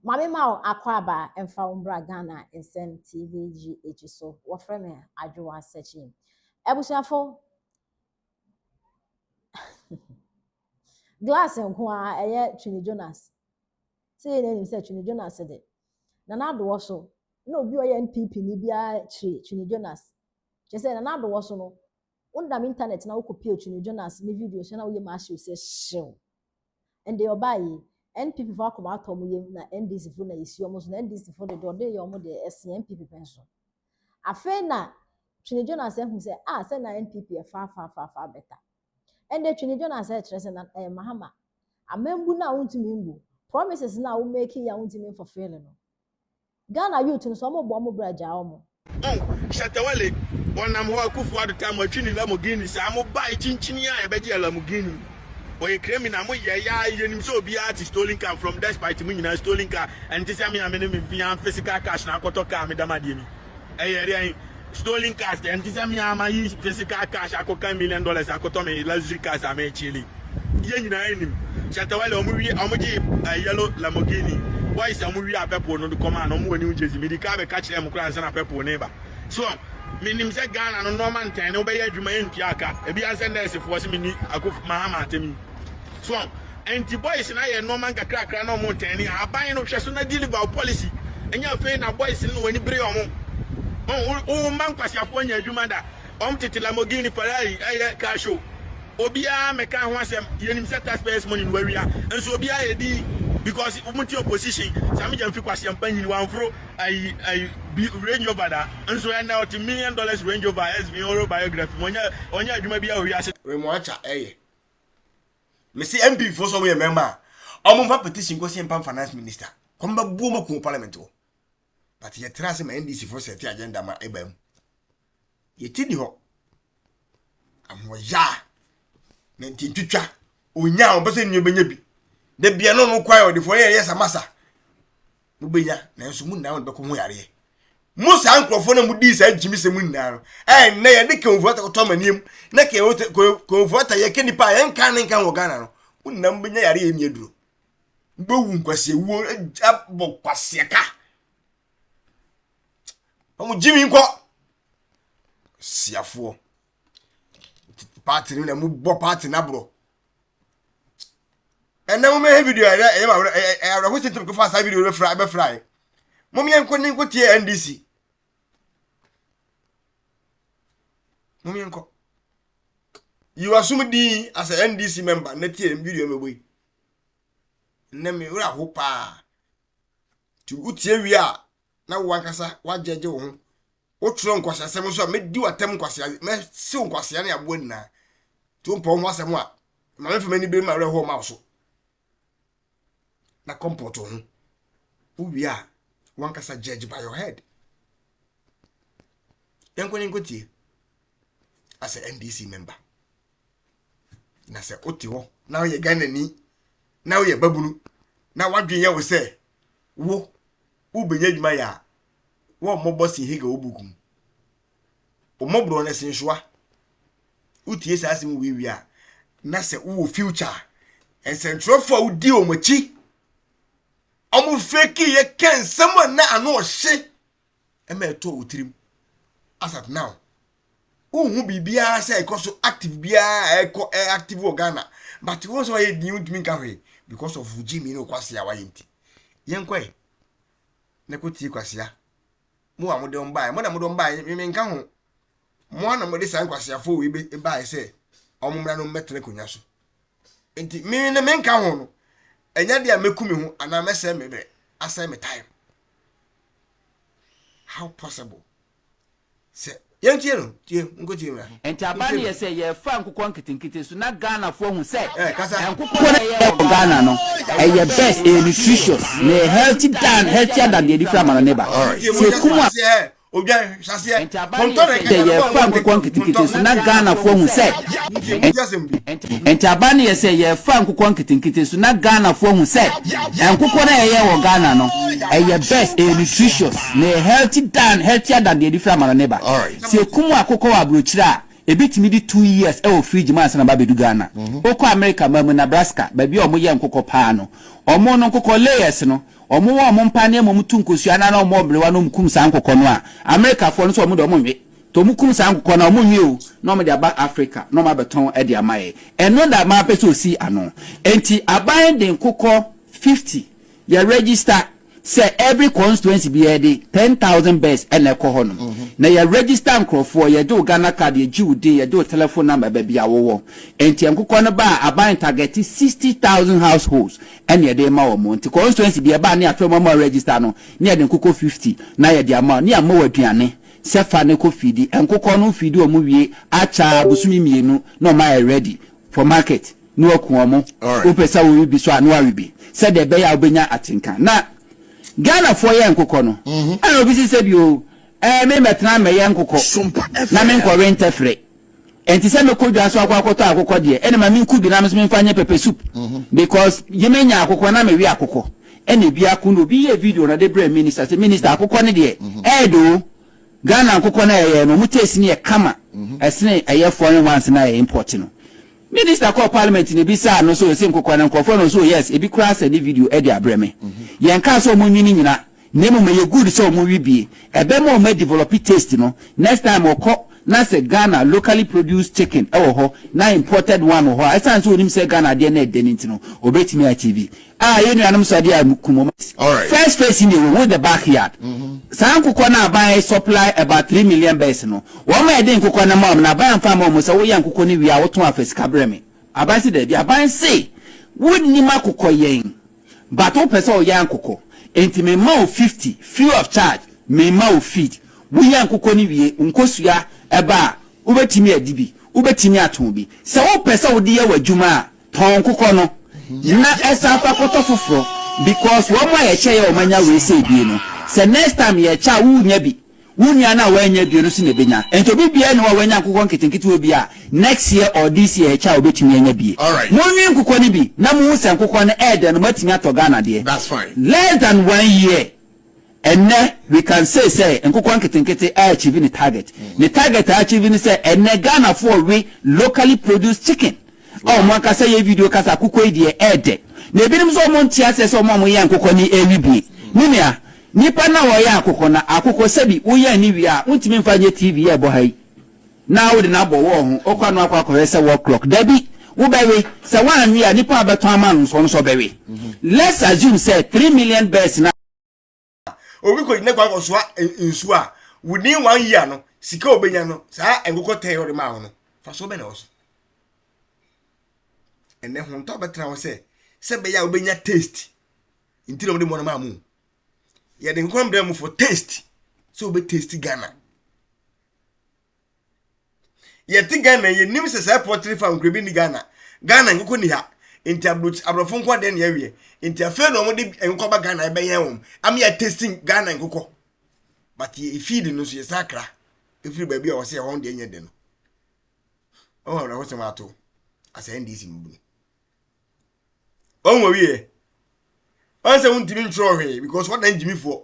Mame ma wo akwaaba mfa wo mbra Ghana nsɛm TV GH so wɔfrɛ me Adwoa Sɛkyi Abusuafo Glass nko a ɛyɛ Twini Jonas sɛ yɛ n'anim sɛ Twini Jonas de Nana Adoɔ so na obi ɔyɛ NPP ni biara kyiri Twini Jonas kyɛ sɛ Nana Adoɔ so no wonam internet na wokɔpie Twini Jonas ne video so na woyɛ ma ahyew sɛ hyew Ɛnde ɔbaa yi, NPP fo akoma atɔ ɔmo yam na NDC fo na yɛsi ɔmo so na NDC fo de deɛ ɔde reyɛ ɔmo deɛ ɛsen NPP pɛ nso. Afei na Twene Jonas ahu sɛ ah sɛ na NPP yɛ far far far far better. Ɛnde Twene Jonas ɛkyerɛ sɛ na ɛyɛ Mahama. Amambu no a wontumi mbu, promises no a wo make yi a wontumi mfulfill no, Ghana youth no so ɔmo bɔ ɔmo bra gyaa ɔmo. Oh Shatta Wale ɔnam hɔ a Kufuor Addo taa mo atwi ne Lamborghini saa mo bae kyinkyini a yɛbɛgye yɛ Lamborghini ɔyɛ criminal mo yɛ ya yɛnim sɛ obiara te stolen car from despite mo nyinaa stolen car ɛnte sɛ me a me ne me mfe ya physical cash na akɔtɔ car meda mo adeɛ ni. Ɛyɛ dɛn? Stolen cars kɛ? Ɛnte sɛ me ara mayi physical cash akɔka million dollars akɔtɔ me luxury cars a merekyele yi. Yɛn nyinaa nim. Shatta Wale, wɔwie, wɔgyee yellow Lamborghini. Boys a wɔwiaa purple no de kɔmaa no, wɔwɔ New Jersey. Medii kan bɛka kyerɛɛ mo koraa ansa na purple no reba. So menim sɛ Ghana no nnoɔma ntɛn ne wobɛyɛ adwuma ɛntua ka. Ebi ara ne sɛ nɛɛsefoɔ se menni Akuffo Mahama atem yi. So ɔho? Ɛnti boys no ayɛ nnoɔma nkakrakra na ɔmo tɛn ne ahaban no hwɛ so na deliver wo policy ɛnyɛ afei na boys no na w'ani bere ɔmo ɔho wo mma nkwaseafoɔ nya adwuma da ɔmo tete Lamborghini Ferrari ɛyɛ car show obiara mɛka ho asɛm yɛnim sɛ taxpayers money no wawia nso obiara yɛ din because ɔmo te opposition saa megya mfi kwaseampa nyini wanforo ayi ayi bi Range Rover da nso ɛnɛ ɔte million dollars Range Rover SV ɔrɔ biography mu ɔnyɛ ɔnyɛ adwuma biara wɔ wiase Remoacha ɛyɛ mesi MP fo so mo yɛ mɛma a wɔn mfa petition kɔ sɛmpa finance minister kɔm bɛ buo mo kun parliament wɔ but yɛ tra se ma NDC fo sɛ ti agenda ma ɛba mu yɛ ti ni hɔ ahoɔya na nti ntwitwa onya a wɔn pɛ sɛ nua bɛnya bi da bia no no kwan ɔde fo yɛ yɛ samasa mobɛnya nanso mo nyinaa mo bɛkɔ ho yareɛ mo saa nkurɔfoɔ no a modii saa gyimisɛm mu nyinaa no ɛnnɛ yɛde kɛnfuata kɔtɔ amanneɛ mu na kɛnfuata yɛka nipa a yɛnka ne nka wɔ ghana no mo nyinaa mobɛnya yareɛ ɛni aduro mobɛwu nkwaseɛwuo abɔ kwaseɛka ɔmo gyimi nkɔ siafoɔ paati no na mobɔ paati no aborɔ ɛnna mo mɛhɛ video ɛyɛ ɛyɛ ɛyɛ ɛyɛ awerɛho si nti mo fa saa video no bɛfra bɛfra yi mo mmiɛ nko ne nko tie ndc mo mmiɛ nko yi wa sum dii as a ndc member na tie video no bɛbɔ yi ɛnna mi wura ho paa ti o tie wie a na wo ankasa woagyɛgye wo ho, wotwerɛ nkwaseasɛm nso a, mɛdi w'atam nkwasea, mɛsew nkwasea ne aboa nyinaa. Nti wompɛ wo ho asɛm a, ma memfa m'ani bere mu awerɛhoɔ ma wo so. Na kɔmpɔto ho. Wowie a, wankasa judge by your head. Yɛnkɔ ne nkɔtie as a NDC member. na sɛ wote hɔ na woyɛ ghanani na woyɛ babunu na wadwen yɛ wo sɛ wo wobɛnya adwuma yɛ a wɔmmɔbɔ si hege wo buku mu wɔmmɔborɔ no si nsoa wotie saa asɛm wei wie a na sɛ wowɔ future a nsɛntwerɛfoɔ a wodi wɔn akyi wɔn fake yɛ kɛ nsɛm a na ano ɔhye ɛma ɛtɔ wo tirim as at now wohu biribiara sɛ ɛkɔ so active biara a ɛkɔ ɛ active wɔ ghana but wɔn sɛ wɔyɛ din ntumi nka hwee because of gyimi ne okwasea a wayɛ nti yɛnkɔ ɛ na kɔ tie kwasea mo a mode wɔn baeɛ mo na mode wɔn baeɛ meme nka ho mo a na mode saa nkwaseafoɔ wei bɛ- baeɛ sɛ wɔn mmra no mmɛtena akonnwa so nti me na menka ho no ɛnyɛ deɛ a mɛku me ho anaa mɛsɛe me berɛ asɛe me time How possible? Sɛ yɛntie no, tie, nkotie mmra. Nti aba no yɛ sɛ yɛrefa nkokɔ nketenkete so na Ghanafoɔ ahu sɛ nkokɔ no a yɛyɛ wɔ Ghana no ɛyɛ best, ɛyɛ nutritious, na ɛyɛ healthy than healthier than deɛ yɛde firi amano no ba. Nti ɛmu yɛ sɛ wɔte sɛ odwan. Sɛ yɛfa nkokɔ nketenkete so na Ghanafoɔ ahu sɛ. Ntaban no yɛ sɛ yɛfa nkokɔ nketenkete so na Ghanafoɔ ahu sɛ nkokɔ no a yɛyɛ wɔ Ghana no ɛyɛ best, ɛyɛ nutritious na ɛyɛ healthy than, healthier than deɛ yɛde firi amano no ba. Sɛ yɛkum akokɔ wɔ aburokyire a, ɛbɛtumi di two years ɛwɔ fridge mu ansa na aba abɛdu Ghana. Wokɔ America man mu, Nebraska, baabi a wɔyɛ nkokɔ paa no, wɔn no nkokɔ layers no, Ɔmo wɔ ɔmo mpa nneɛma ɔmo tu nkosua no ara na ɔmo wɔ mmerewa na ɔmo kum saa nkokɔ no a Amerikafoɔ no sɛ ɔmo deɛ ɔmo nwe nti ɔmo kum saa nkokɔ no a ɔmo nwe o na ɔmo de aba Africa na ɔmo abɛtɔn de ama yɛn ɛno na maa mpɛ sɛ ɔsi ano nti aban de nkokɔ fifty yɛ register sɛ every constituency bi yɛde ten thousand birds na ɛkɔ hɔ nom na yɛ register nkorɔfoɔ yɛgye wo Ghana card yɛgye wo din yɛgye wo telephone number baabi a wowɔ nti nkokɔ no ba a aban target sixty thousand households ɛna yɛde rema wɔn. Nti constituency bi ɛbaa ne yɛafrɛ mo ama wɔn register no, ne yɛde nkokɔ fifty na yɛde ama wɔn, ne yɛama wɔn aduane sɛ fa ne kɔ feedi. Nkokɔ no feedi wɔn wie akyɛ ara bosome mmienu na wɔn ayɛ ready for market na wɔaku wɔn. Alright. Wopɛ sɛ wowe bi so a na woawe bi sɛdeɛ ɛbɛyɛ a wobɛnya atenka. Na Ghanafoɔ yɛ nkokɔ no, ɛna obi si sɛ bi o, ɛɛ me mmɛtena mmɛyɛ nkokɔ Sompa na FM. menkɔwe ntɛfrɛ. Ɛnte sɛ mɛkɔ dwa so akɔ akɔtɔ akokɔ deɛ, ɛna ma menku bi na me so memfa nyɛ pepper soup because ye mɛnya akokɔ na mewe akokɔ. Ɛna biako no obi yɛɛ video na ɔde brɛɛ minister sɛ minister akokɔ no deɛ ɛyɛ dɛ oo, Ghana nkokɔ no a yɛyɛ no wɔn taste no yɛ kama ɛsene ɛyɛ foreign ones no a yɛ import no. Minister kɔɔ parliament na ebisaa no sɛ ɔse nkokora na nkurɔfoɔ no ɔse oh yes ebi koraa sɛ ne video ɛde abrɛ me. Yɛnkaa sɛ ɔmo nwi no nyina na mmom ɛyɛ good sɛ ɔmo wi bie. Ɛbɛma ɔmo adevelope taste no next time ɔkɔ na sɛ Ghana locally produced chicken ɛwɔ hɔ na imported one wɔ hɔ a ɛsiane sɛ ɔnim sɛ Ghana adeɛ no ɛdɛ no nti no ɔbɛtumi akyɛ bi. Ah yɛ nuanom sɔ adeɛ a kum wɔn. First phase no deɛ wɔ hu the back yard. Saa nkokɔ no aban supply about three million birds no wɔn ma yɛde nkokɔ no ma wɔn na aban amfa amma wɔn sɛ woyɛ nkokɔ no wie a wotɔn a fa sika brɛ me. Aban se dabi. Aban se wonnim akokɔ yɛn but wopɛ sɛ woyɛ ankokɔ enti me ma wo fifty free of charge me ma wo feed woyɛ nkokɔ no wie wo nkosua ɛba a wobɛtumi adi bi wobɛtumi atɔn bi sɛ wopɛ sɛ wode yɛ w'adwuma a tɔn kokɔ no na ɛsan kɔ akɔtɔ foforɔ because wɔn a yɛkyɛ yɛ wɔn anya wei sei bie no sɛ next time yɛkyɛ a wo nya bi wo nua no a wannya bie no nso na ɛbɛnya nti obi biara ni hɔ a wanya nkokɔ nketenketewa bi a next year or this year yɛkyɛ a obɛtumi anya bie monwe nkokɔ no bi na mohu sɛ nkokɔ no ɛɛdɛ no moatumi atɔ Ghana deɛ less than one year Ɛnnɛ, we can say sɛ nkokɔ nketenkete a achieve ne target. Ne target a achieve ne sɛ ɛnnɛ Ghanafoɔ we locally produced chicken a wɔn ankasa yɛ video ka sɛ akokɔ yi deɛ ɛɛdɛ. Na ebinom nso wɔn nte aseɛ sɛ wɔn a wɔyɛn nkokɔ no ɛɛwe bie. Me nua, nipa no a ɔyɛn akokɔ no, akokɔ sɛbi woyɛn no wie a wontumi mfa nyɛ TV a ɛbɔ ha yi. Na wode no abɔ wall ho, wokɔ ano akɔ akɔhwɛ sɛ wall clock? Dabi, wobɛwe. Sɛ woanwe a, nipa a ɔbɛtɔn ama no nso, ɔno nso ɔbɛwe. Let's assume sɛ three million birds na. Obi kɔ gyina gua kɔsoa nsuo a, within one year no, sika a obenya no, saa nkokɔ ten a ɔde maa wo no, fasoɔ bɛn na ɛwɔ so? Ɛnɛ ho ntɔ bɛtena hɔ sɛ sɛ bɛyɛ a wobenya taste nti na wɔde mmoa no maa mu. Yɛde nkokɔ no brɛ mu for taste sɛ wobɛ taste Ghana. yɛte ghana yɛnim sɛ saa pɔtere fa nkorɛ bi ni ghana ghana nkokɔ ni ha nti aborɔfo nkɔ dɛn ne awiɛ nti afei na wɔde nkokɔ ba ghana ɛbɛyɛn wɔn ama yɛ testing ghana nkokɔ but yɛ feed no nso yɛ saa kra ɛfiri baabi a wɔsɛ ɛhɔ deɛ nyɛ de no ɔwɔ awerɛho sɛm ato asɛ ndc mu bunu ɔwɔ wieɛ ɔnsɛ wontumi ntwerɛ hwee because wɔdan gyimifoɔ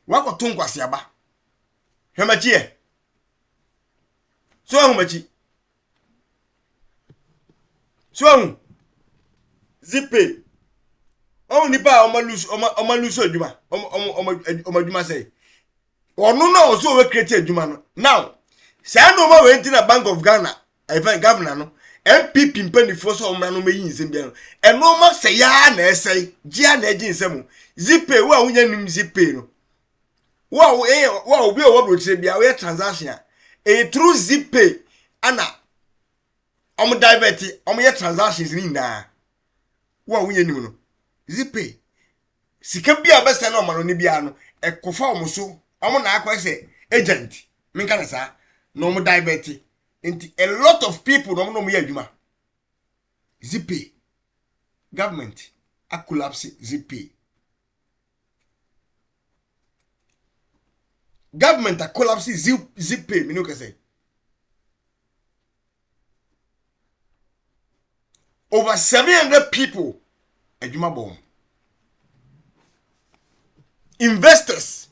wakɔto nkwaseaba hwɛ m'akyi ɛ so ahu m'akyi so ahu zipe ɔhu nipa a ɔma lusu ɔma ɔma lusu adwuma ɔma ɔma ɔma ɔma adwuma sɛ ɔno na ɔso ɔwɔ kireti adwuma no now saa nneɛma wei ti na bank of ghana ɛfɛ eh, gavana no npp mpanimfoɔ sɛ ɔmmra no mɛyi nsɛm biara no ɛnoɔma sɛ yaa na ɛsɛe gyea na ɛgye nsɛm zipe wo a wonya nim zipe no wo a woyɛ wo a obi a ɔwɔ aburokyire bia woyɛ transaction a ɛyɛ through zip pay ana wɔn divert wɔn yɛ transactions ne nyinaa wo a wonyɛ nim no zip pay sika bi a bɛsɛn na ɔma no ne biara no ɛkɔfa wɔn so wɔn na akɔ sɛ agent menka ne saa na wɔn divert nti a lot of people na wɔn na wɔn yɛ adwuma zip pay government a collapse zip pay. government a collapse zip zip pay mi ni o kɛ sɛ over seven hundred people adwuma bɔ wɔn investors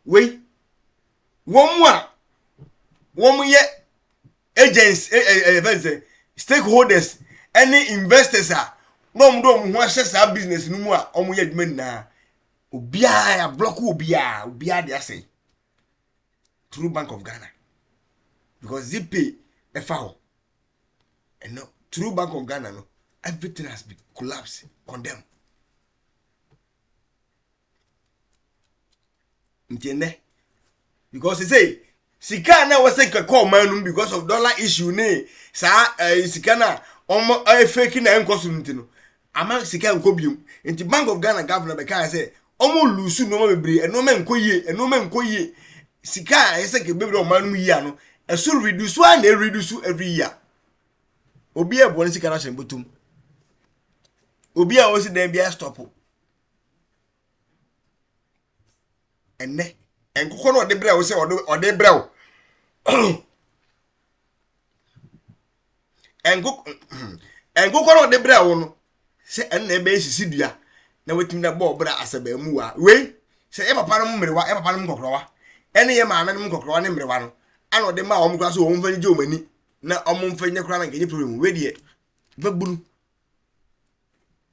wei wɔn a wɔn yɛ agents ɛ ɛ ɛ fɛn sɛ stakeholders ɛne investors a na wɔn de wɔn ho ahyɛ saa business no mu a wɔn yɛ adwuma nyinaa obiara yɛ ablɔk obiara obiara de asɛn through bank of ghana because zipay ɛfa hɔ ɛnna through bank of ghana no everything has been collapsed condemned. nti nnɛ because sɛ sika a na ɛwɔ sɛ nkɛkɔ ɔman no mu because of dollar issue ne saa ɛɛ eh, sika no a wɔn ɛyɛ fake na ɛnkɔ so no nti no ama sika nkɔ biom nti bank of ghana governor bɛka sɛ wɔn lusu nneɛma bebree nneɛma nkɔ yie nneɛma nkɔ yie sika a ɛyɛ sɛ nkɛbɛbrɛ ɔman no mu yie ano ɛso reduce a na ɛreduce every year obi a ɛbɔ ne sika no ahyɛ ne bɔtɔm obi a ɔsi dan bi a stop. ɛnɛ nkokɔ no ɔde brɛ wo sɛ ɔde brɛ wo nkokɔ no ɔde brɛ wo no sɛ ɛno na ɛbɛyɛ sisi dua na watumi na bɔɔ brɛ asɛbɛɛmuwa wei sɛ yɛ papa no mmerewa yɛ papa no nkɔkorɔwa ɛne yɛ maame no nkɔkorɔwa ne mmerewa no ana ɔde maa wɔn kora so wɔn mfa ne gye wɔn ani na wɔn mfa nyɛ kora na nkɛnyɛ problem wei deɛ bɛbunu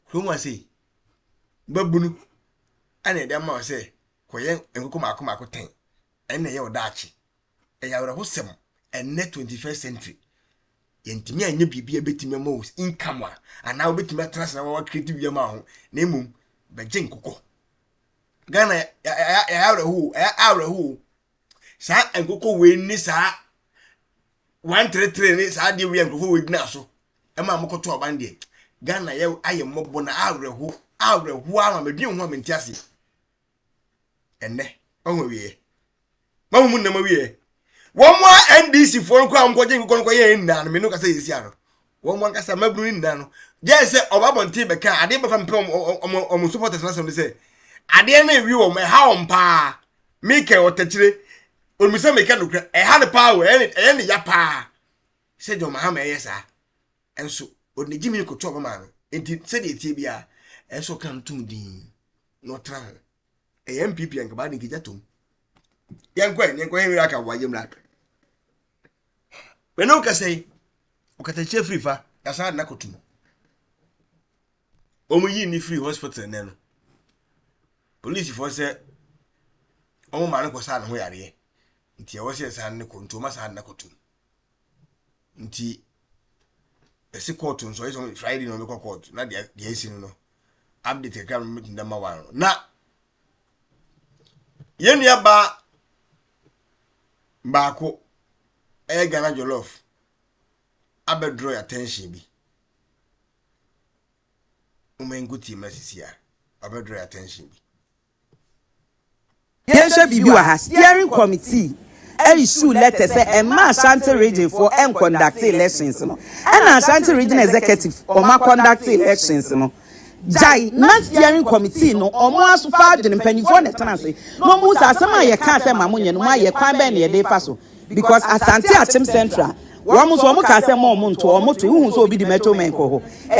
kurom ase yi mmabunu na ɛde ama wo sɛ kɔyɛ nkokɔ mmaako mmaako tɛn ɛna ɛyɛ ɔdaakye ɛyɛ awerɛhosɛm ɛnɛ 21st century yɛntumi anyɛ biribi a ɛbɛtumi ama wo income a anaa wobɛtumi atena ase na wawa create biribi ama ho na mmom bɛgye nkokɔ ghana ɛyɛ awerɛho ɛyɛ awerɛho saa nkokɔ wei ne saa one three three ne saa adeɛ wei a nkurɔfoɔ wei gyina so ɛma mo kɔto aban deɛ ghana yɛ ayɛ mmɔbɔ na awerɛho awerɛho ama medwen ho a mente aseɛ ɛnɛ mahu awieɛ mahu mu nnam awieɛ wɔn a ndc foɔ no koraa nkɔgye nkokɔ no kɔyɛ nna no me no kasa yɛ si ano wɔn mu ankasa mmabunu no nyinaa no gyɛn sɛ ɔba abɔnten bɛka adeɛ bɛfa mpɛ wɔn supporters n'asɛm no sɛ adeɛ no ewi wɔn ɛha wɔn paa meka ɔtakyire wɔn sɛ meka no kura ɛha no paa wɔ ɛyɛ ne ya paa sɛ John Mahama ɛyɛ saa ɛnso ɔde gyimi kɔtɔ ɔbɛma no nti sɛdeɛ etie biara ɛnso ɔka no tum din na ɔtena ho ɛyɛ npp yɛn kaba ne nkegya tom yɛn kɔ yɛn yɛn kɔ yɛn wura ka wa yɛn wura mene okasa yi ɔkatakyɛ firi fa yasa adana kɔ tum wɔn yi ni firi hospital nɛ no polisifoɔ sɛ wɔn maa no kɔ saa ne ho yareɛ nti ɛwɔ sɛ saa ne kɔ nti wɔn asa adana kɔ tum nti ɛsi kɔɔto nso ɛsɛ sɛ friday na ɔbɛkɔ kɔɔto na deɛ deɛ ɛsi no no update kakra na ɔbɛtumi dama wa no na yɛn nua baa baako ɛyɛ ghana jollof abɛdoro yɛ attention bi wɔn nko tie mu na sisi a abɛdoro yɛ attention bi. Yɛnhwɛ biribi wɔ ha, Steering Committee issued letter sɛ ɛmma Ashanti Region foɔ nconduct elections no, ɛna Ashanti Region Executive wɔn aconduct elections no, gyae na Steering Committee no wɔn afa adwene, mpanyinfoɔ na ɛtena ase na wɔn hu sɛ asɛm a yɛkaa sɛ ma monyɛ no moayɛ, kwan bɛn na yɛde fa so because Asante Akyem Central wɔn nso wɔn kaa sɛ mma wɔn nto, wɔn toe, wohu sɛ obi de Metro Men kɔ hɔ.